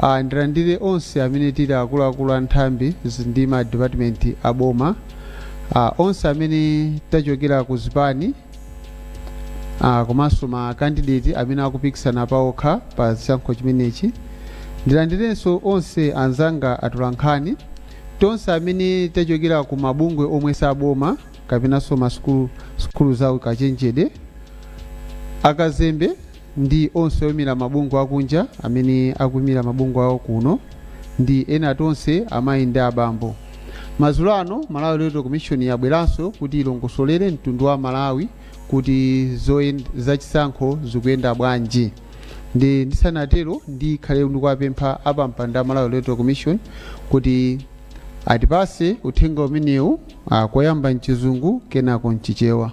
a Ndilandire onse amene tili akuluakulu a nthambi zi- ndi ma dipatimenti a boma, a onse amene tachokera ku zipani a komanso ma kandideti amene akupikisana paokha pa chisankho chimenechi. Ndilandirenso onse anzanga atolankhani, tonse amene tachokera ku mabungwe omwe si aboma kapenanso masukulu sukulu za ukachenjede, akazembe ndi onse oimira mabungwe akunja amene akuimira mabungwe awo kuno ndi ena tonse amayi ndi abambo madzulo ano malawi electoral commission yabweranso kuti ilongosolere mtundu wa malawi kuti zachisankho zikuyenda bwanji ndi ndisanatero ndikhale ndikuwapempha apampanda a malawi electoral commission kuti atipase uthenga umenewu ah, koyamba mchizungu kenako mchichewa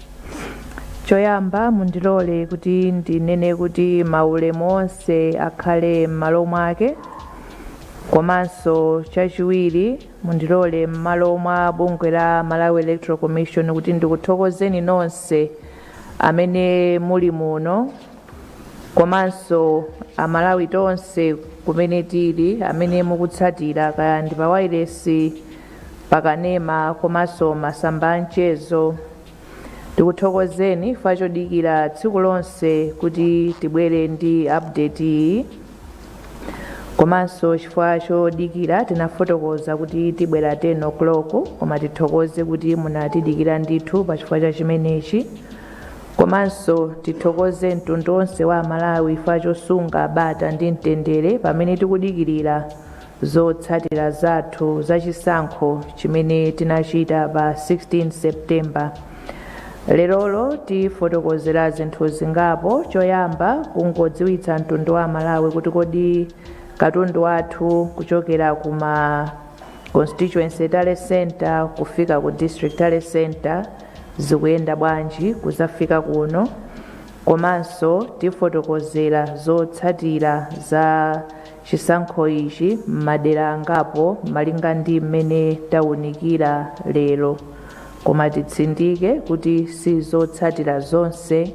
Choyamba mundilole kuti ndinene kuti maulemu onse akhale m'malo mwake komanso chachiwiri mundilole m'malo mwa bungwe la Malawi Electoral Commission kuti ndikuthokozeni nonse amene muli muno komanso amalawi tonse kumene tili amene mukutsatira kaya ndi pa wailesi pakanema komanso masamba a mchezo tikuthokozeni chifukwa chodikira tsiku lonse kuti tibwere ndi update iyi komanso chifukwa chodikira tinafotokoza kuti tibwera 10 o'clock koma tithokoze kuti munatidikira ndithu pa chifukwa cha chimenechi komanso tithokoze mtundu onse wa amalawi chifukwa chosunga bata ndi mtendere pamene tikudikirira Zotsatira zathu za chisankho chimene tinachita pa 16 September. Lerolo tifotokozera zinthu zingapo, choyamba kungodziwitsa mtundu wa Amalawi kuti kodi katundu wathu kuchokera ku ma Constituency Tally Centre kufika ku District Tally Centre zikuyenda bwanji kudzafika kuno, komanso tifotokozera zotsatira za chisankho ichi m'madera angapo malinga ndi mmene taunikira lero, koma titsindike kuti si zotsatira zonse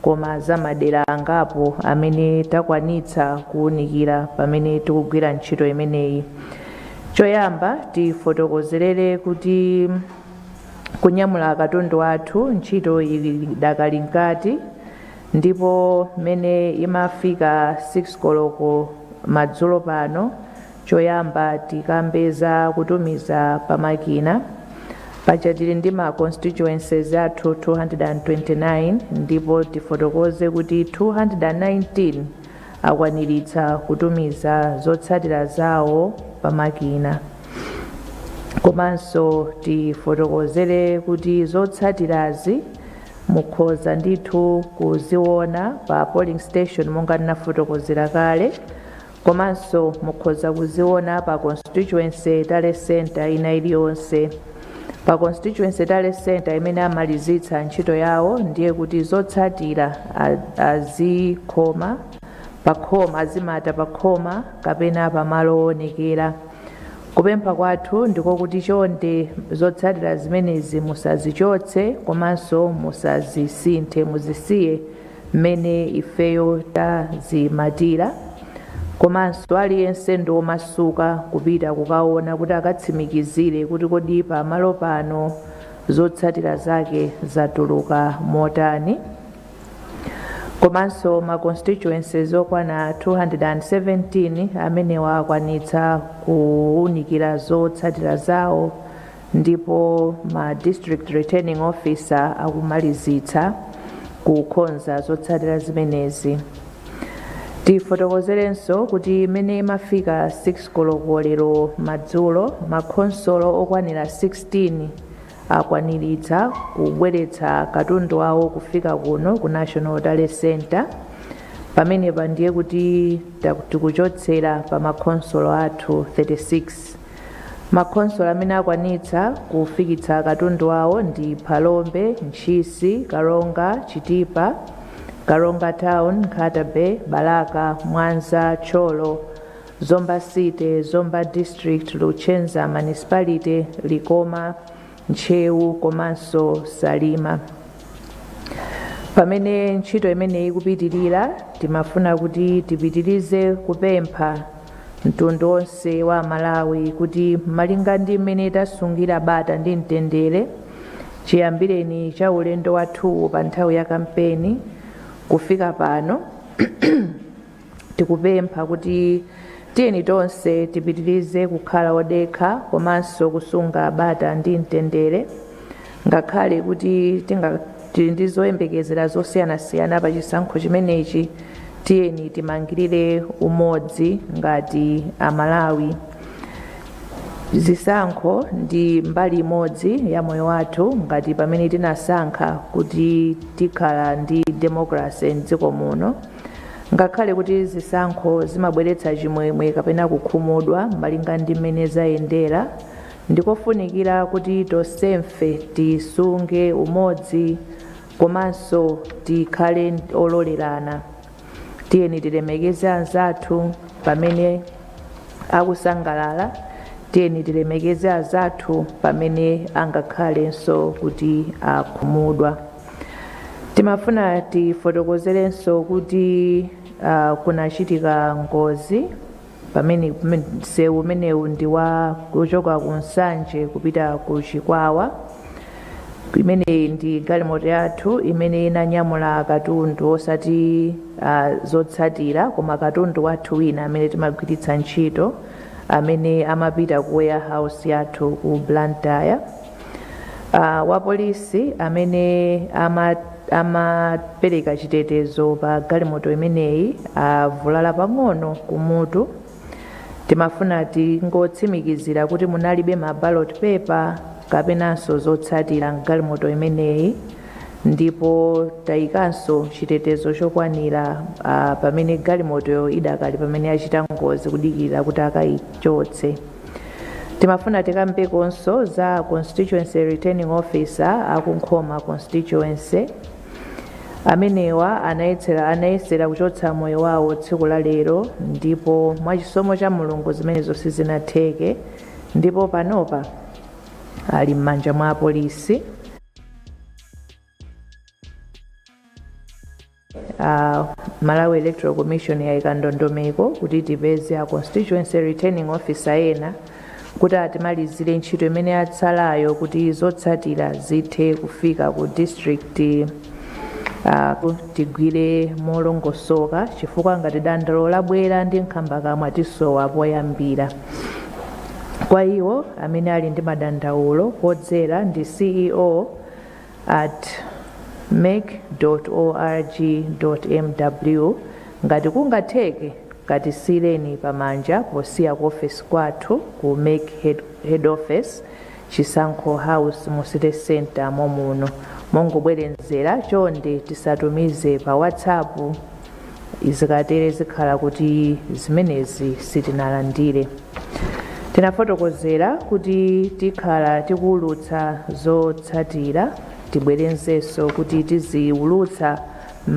koma za madera angapo amene takwanitsa kuunikira pamene tikugwira ntchito imeneyi. Choyamba tifotokozerere kuti kunyamula katundu wathu ntchito idakali mkati. ndipo mmene imafika 6 koloko madzulo pano choyamba tikambe za kutumiza pamakina paja tili ndi ma constituencies athu 229 ndipo tifotokoze kuti 219 akwaniritsa kutumiza zotsatira zawo pamakina komanso tifotokozere kuti zotsatirazi Mukhoza ndithu kuziona pa polling station monga ndinafotokozera kale komanso mukhoza kuziona pa constituency tally center ina iliyonse. Pa constituency tally center imene amalizitsa ntchito yawo ndiye kuti zotsatira azikhoma pakhoma azimata pakhoma kapena pamalo oonekera Kupempha kwathu ndiko kuti chonde zotsatira zimenezi musazichotse komanso musazisinthe muzisiye mmene ifeyo tazimatira komanso aliyense ndi omasuka kupita kukaona kuti akatsimikizire kuti kodi pamalo pano zotsatira zake zatuluka motani. komanso ma constituencies okwana 217 amenewa akwanitsa kuwunikira zotsatira zawo ndipo ma district returning officer akumalizitsa kukonza zotsatira zimenezi tifotokozerenso kuti mmene imafika 6 koloko lero madzulo makhonsolo okwanira 16 akwaniritsa kubweretsa katundu wawo kufika kuno ku national tally center pamenepa ndiye kuti tikuchotsera pa makhonsolo athu 36 makhonsolo amene akwanitsa kufikitsa katundu wawo ndi phalombe ntchisi karonga chitipa karonga town nkhata bay balaka mwanza thyolo Zomba City, Zomba District, Luchenza Municipality, Likoma, Ntcheu komanso Salima. Pamene ntchito imeneyi ikupitirira, timafuna kuti tipitirize kupempha mtundu wonse wa aMalawi kuti malinga ndi mmene tasungira bata ndi mtendere chiyambireni cha ulendo wathuwu pa nthawi ya kampeni kufika pano Tikupempha kuti tiyeni tonse tipitirize kukhala odekha komanso kusunga bata ndi mtendere ngakhale kuti tili ndi zoyembekezera zosiyanasiyana pa chisankho chimenechi tiyeni timangirire umodzi ngati amalawi zisankho ndi mbali imodzi ya moyo wathu ngati pamene tinasankha kuti tikhala ndi democracy mdziko muno ngakhale kuti zisankho zimabweretsa chimwemwe kapena kukhumudwa malinga ndi mmene zayendera ndikofunikira kuti tonsefe tisunge umodzi komanso tikhale ololerana tiyeni tilemekeze anzathu pamene akusangalala tiyeni tilemekeze anzathu pamene angakhalenso kuti akhumudwa Timafuna tifotokozerenso kuti ah, kunachitika ngozi pamene msewu umenewu ndi wa kuchoka ku Nsanje kupita ku Chikwawa imene ndi galimoto yathu imene inanyamula katundu osati ah, zotsatira koma katundu wathu wina amene timagwiritsa ntchito amene amapita ku warehouse yathu ku Blantyre Uh, wapolisi amene amapereka chitetezo pa galimoto imeneyi avulala pang'ono kumutu timafuna tingotsimikizira kuti munalibe ma ballot paper kapenanso zotsatira mgalimoto imeneyi ndipo tayikanso chitetezo chokwanira uh, pamene galimoto idakali pamene yachita ngozi kudikira kuti akayichotse timafuna tikambekonso za constituency returning officer akunkhoma constituency amenewa anayesera kuchotsa moyo wawo tsiku la lero ndipo mwachisomo cha mulungu zimenezo sizinatheke ndipo panopa ali m'manja mwa apolisi Uh, Malawi Electoral Commission yaika ndondomeko kuti tipeze a constituency returning officer ena kuti atimalizire ntchito imene yatsalayo kuti zotsatira zithe kufika ku district uh, ku- tigwire molongosoka chifukwa ngati dandaulo labwera ndi nkhambakamwa tisowa poyambira kwa iwo amene ali ndi madandaulo podzera ndi ceo at mec.org.mw ngati kungatheke katisiyireni pamanja posiya ku ofesi kwathu ku mec head, head office chisankho house mu city center momuno mongobwerezera chonde tisatumize pa whatsapp zikatere zikhala kuti zimenezi sitinalandire Tinafotokozera kuti tikhala tikuulutsa zotsatira tibwerezenso kuti tiziulutsa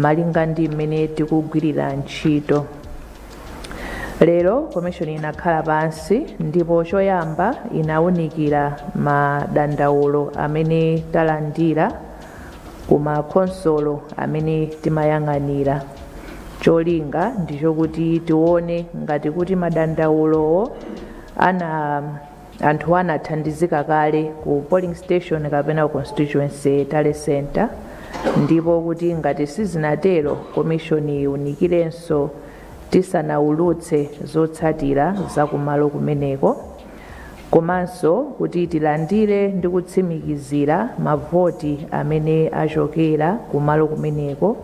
malinga ndi mmene tikugwirira ntchito. Lero komishoni inakhala pansi ndipo choyamba inaunikira madandaulo amene talandira ku makhonsolo amene timayang'anira. Cholinga ndi chokuti tione ngati kuti madandaulowo ana anthu anathandizika kale ku polling station kapena ku constituency tally center ndipo kuti ngati sizinatero komishoni iunikirenso tisanaulutse zotsatira za kumalo kumeneko komanso kuti tilandire ndi kutsimikizira mavoti amene achokera kumalo kumeneko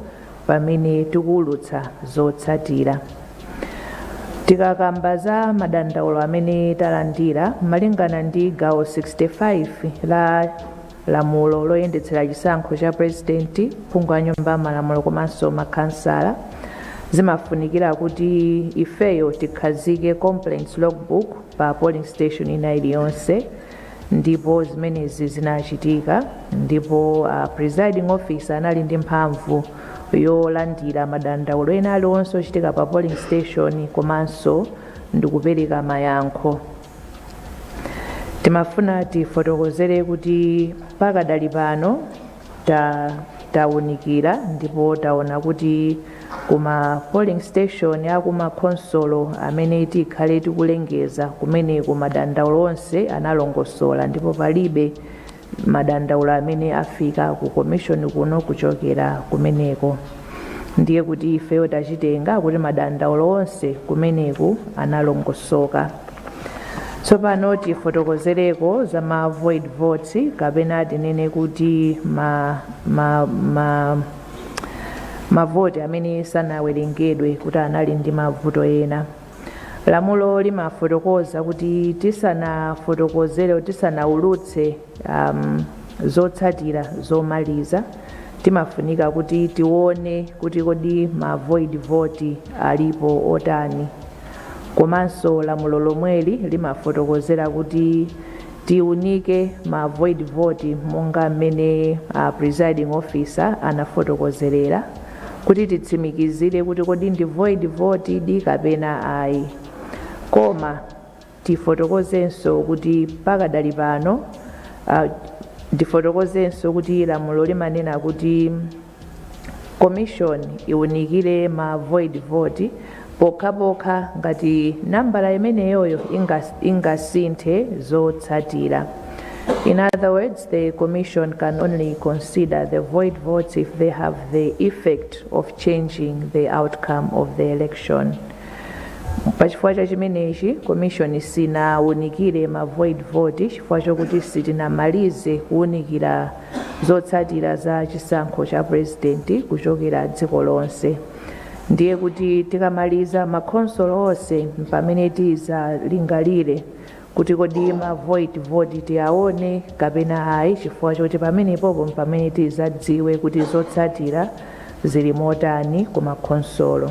pamene tikuulutsa zotsatira. Tikakamba za madandaulo amene talandira malingana ndi gawo 65 la lamulo loyendetsera chisankho cha pulezidenti, phungu wa nyumba ya malamulo komanso makhansala, zimafunikira kuti ifeyo tikhazike complaints logbook pa polling station ina iliyonse ndipo zimenezi zinachitika ndipo uh, presiding officer anali ndi mphamvu yolandira madandaulo ena aliwonse ochitika pa polling station komanso ndikupereka mayankho timafuna tifotokozere kuti pakadali pano ta tawunikira ndipo taona kuti ku ma polling station a ku makhonsolo amene tikhale tikulengeza kumeneku madandaulo onse analongosola ndipo palibe madandaulo amene afika ku komishoni kuno kuchokera kumeneko ndiye kuti ifeyo tachitenga kuti madandaulo onse kumeneku analongosoka tsopano tifotokozereko za ma void votes kapena tinene kuti ma, ma, ma, mavoti amene sanawerengedwe kuti anali ndi mavuto ena Lamulo limafotokoza kuti tisanafotokozere, tisanaulutse um, zotsatira zomaliza timafunika kuti tione kuti kodi ma void vote alipo otani komanso lamulo lomweli limafotokozera kuti tiunike ma void vote monga mmene uh, presiding officer anafotokozerera kuti titsimikizire kuti kodi ndi void vote di kapena ayi koma tifotokozenso kuti pakadali pano uh, ndifotokozenso kuti lamulo limanena kuti commission iwunikire ma void vote pokhapokha ngati nambala imeneyoyo ingas- ingasinthe zotsatira In other words, the Commission can only consider the void votes if they have the effect of changing the outcome of the election. pachifukwa cha chimenechi komishoni sinawunikire ma void vote chifukwa chokuti sitinamalize kuwunikira zotsatira za chisankho cha purezidenti kuchokera dziko lonse ndiye kuti tikamaliza makhonsolo onse mpamene tizalingalire kuti kodi ma void vote tiyaone kapena ayi chifukwa choti pamenepopo mpamene tizadziwe kuti zotsatira zili motani ku makhonsolo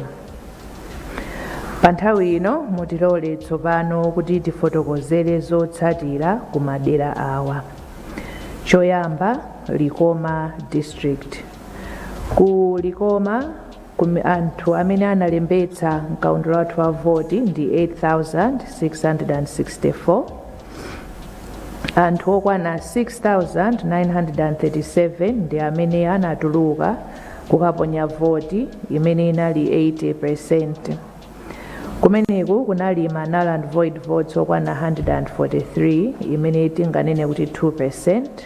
pa nthawi ino mutilole tsopano kuti tifotokozere zotsatira ku madera awa choyamba likoma district Ku Likoma, anthu amene analembetsa m'kaundula wathu wa voti ndi 8,664. Anthu okwana 6,937 ndi amene anatuluka kukaponya voti, imene inali 80 peresenti. Kumeneku kunali ma null and void votes okwana 143, imene tinganene kuti 2 peresenti.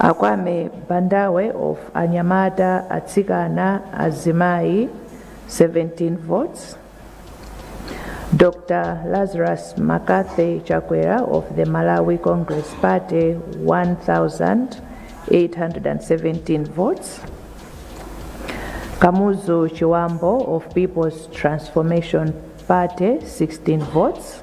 A Kwame Bandawe of Anyamata, Atsikana, Azimayi 17 votes. Dr. Lazarus Makathe Chakwera of the Malawi Congress Party 1,817 votes. Kamuzu Chiwambo of People's Transformation Party 16 votes.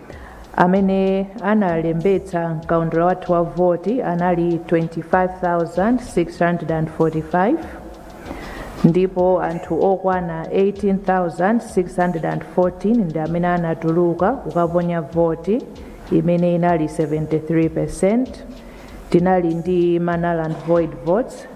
Amene analembetsa mkaundula wathu wa voti anali 25,645 ndipo anthu okwana 18,614 ndi amene anatuluka kukaponya voti imene inali 73%. Tinali ndi ma null and void votes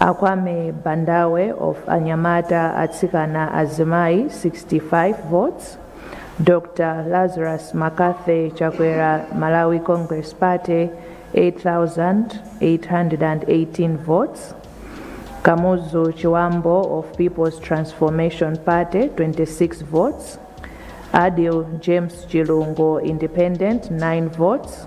A Kwame Bandawe of Anyamata, Atsikana, Azimayi 65 votes, Dr Lazarus Makathe Chakwera Malawi Congress Party 8,818 votes, Kamuzu Chiwambo of People's Transformation Party 26 votes, Adil James Chilungo Independent 9 votes,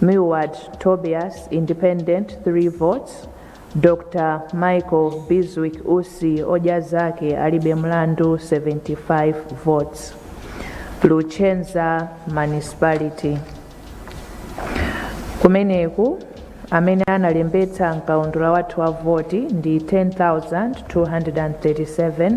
Milward Tobias, Independent, 3 votes. Dr Michael Bizwick Usi, Odya Zake Alibe Mlandu, 75 votes. Luchenza Municipality. Kumeneku amene analembetsa mkaundula wathu wa voti ndi 10,237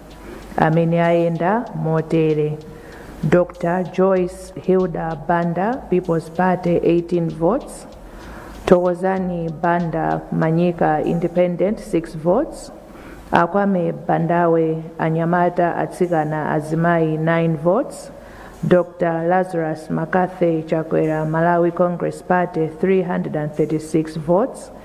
amene ayenda motere dr joyce hilda banda people's party 18 votes thokozani banda manyika independent 6 votes akwame bandawe anyamata atsikana azimayi 9 votes dr lazarus makathe chakwera malawi congress party 336 votes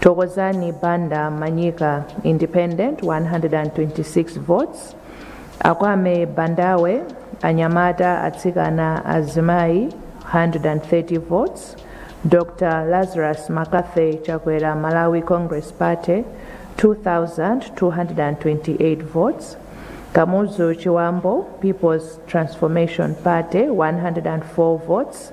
Thokozani Banda Manyika Independent 126 votes Akwame Bandawe Anyamata Atsikana Azimayi 130 votes Dr. Lazarus Makathe Chakwera Malawi Congress Party 2228 votes Kamuzu Chiwambo People's Transformation Party 104 votes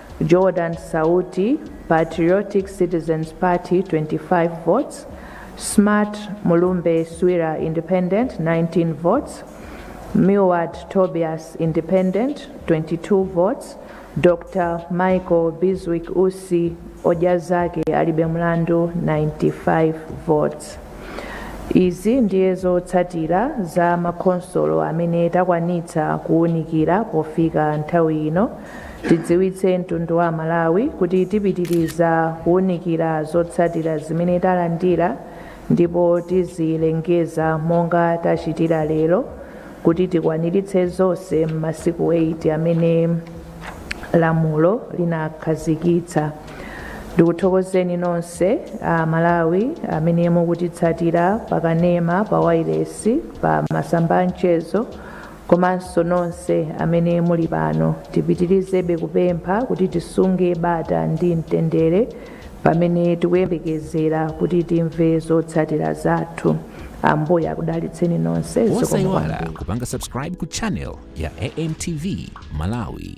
Jordan Sauti, Patriotic Citizens Party 25 votes, Smart Mulumbe Swira Independent 19 votes, Milward Tobias Independent 22 votes, Dr. Michael Biswick Usi Odya Zake Alibe Mlandu 95 votes. Izi ndiye zotsatira za makhonsolo amene takwanitsa kuwunikira pofika nthawi ino Tidziwitse mtundu wa aMalawi kuti tipitiriza kuunikira zotsatira zimene talandira ndipo tizilengeza monga tachitira lero kuti tikwaniritse zonse m'masiku 8 amene lamulo linakhazikitsa. Ndikuthokozeni nonse a Malawi amene mukutitsatira pa kanema, pa wailesi, pa masamba a mchezo, komanso nonse amene muli pano tipitirizebe kupempha kuti tisunge bata ndi mtendere pamene tikuyembekezera kuti timve zotsatira zathu ambuye akudalitseni nonse zikomo kwambiri. osaiwala kupanga subscribe ku channel ya amtv malawi